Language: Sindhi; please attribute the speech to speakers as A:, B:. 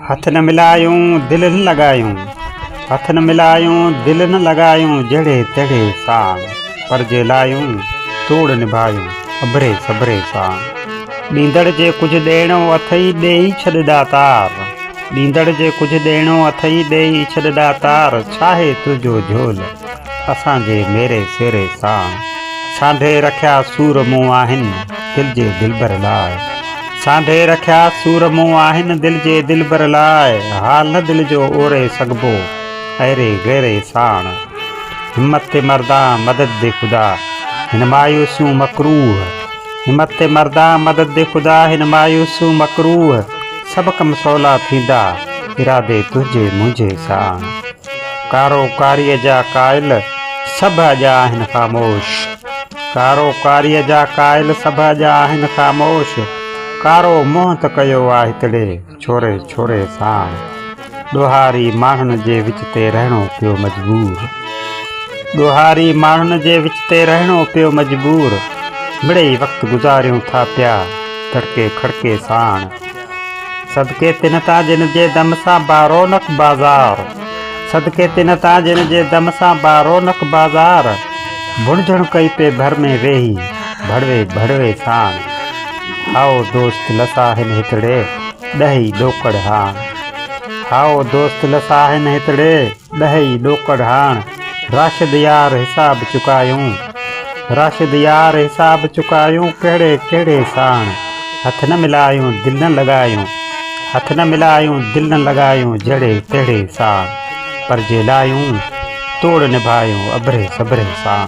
A: هٿ نه ملايون دل نه لڳايون هٿ نه ملايون دل نه لڳايون جهڙي تهڙي سان پر جي لايون توڙ نڀايون اڀري سڀري سان ڏيندڙ جي ڪجهه ڏيڻو اٿئي ڏي ئي ڇڏ ڏاتار ڏيندڙ جي ڪجهه ڏيڻو اٿئي ڏي ئي ڇڏ ڏاتار ڇاهي تنهنجو جهول اسان جي ميري سيري سان سانڍي رکيا سور مون آهن دل جي دلبر لاء سانڍي رکيا سور مون آهن دل جي دلبر لاء حال نه دل جو اوري سگهبو ايري غيري ساڻ همت تي مردان مدد دي خدا هن مايوسيون مڪروه همت تي مردان مدد دي خدا هن مايوسيون مڪروه سڀ ڪم سولا ٿيندا ارادي تنهنجي منهنجي ساڻ. ڪارو ڪاريء جا قائل سڀ اڄا آهن خاموش ڪارو ڪاريء جا قائل سڀ اڄا آهن خاموش ڪارو منهن ته ڪيو آ هتڙي ڇوري ڇوري ساڻ ڏوهاري ماڻهن جي وچ تي رهڻو پيو مجبور ڏوهاري ماڻهن جي وچ تي رهڻو پيو مجبور مڙئي وقت گذاريون ٿا پيا دڙڪي کڙڪي ساڻ صدقي تن تان جن جي دم سان بارونق بازار صدقي تن تان جن جي دم سان بارونق بازار ڀڻجڻ ڪئي پي ڀر ۾ ويهي ڀڙوي ڀڙوي ساڻ هائو دوست لسا هن هتڙي ڏهي ڏوڪڙ هاڻ هائو دوست لسا هن هتڙي ڏهي ڏوڪڙ هاڻ راشد يار حساب چڪايون راشد يار حساب چڪايون ڪهڙي ڪهڙي ساڻ هٿ نه ملايون دل نه لڳايون هٿ نه ملايون دل نه لڳايون جهڙي تهڙي ساڻ پرجي لايون توڙ نڀايون ابري صبري ساڻ.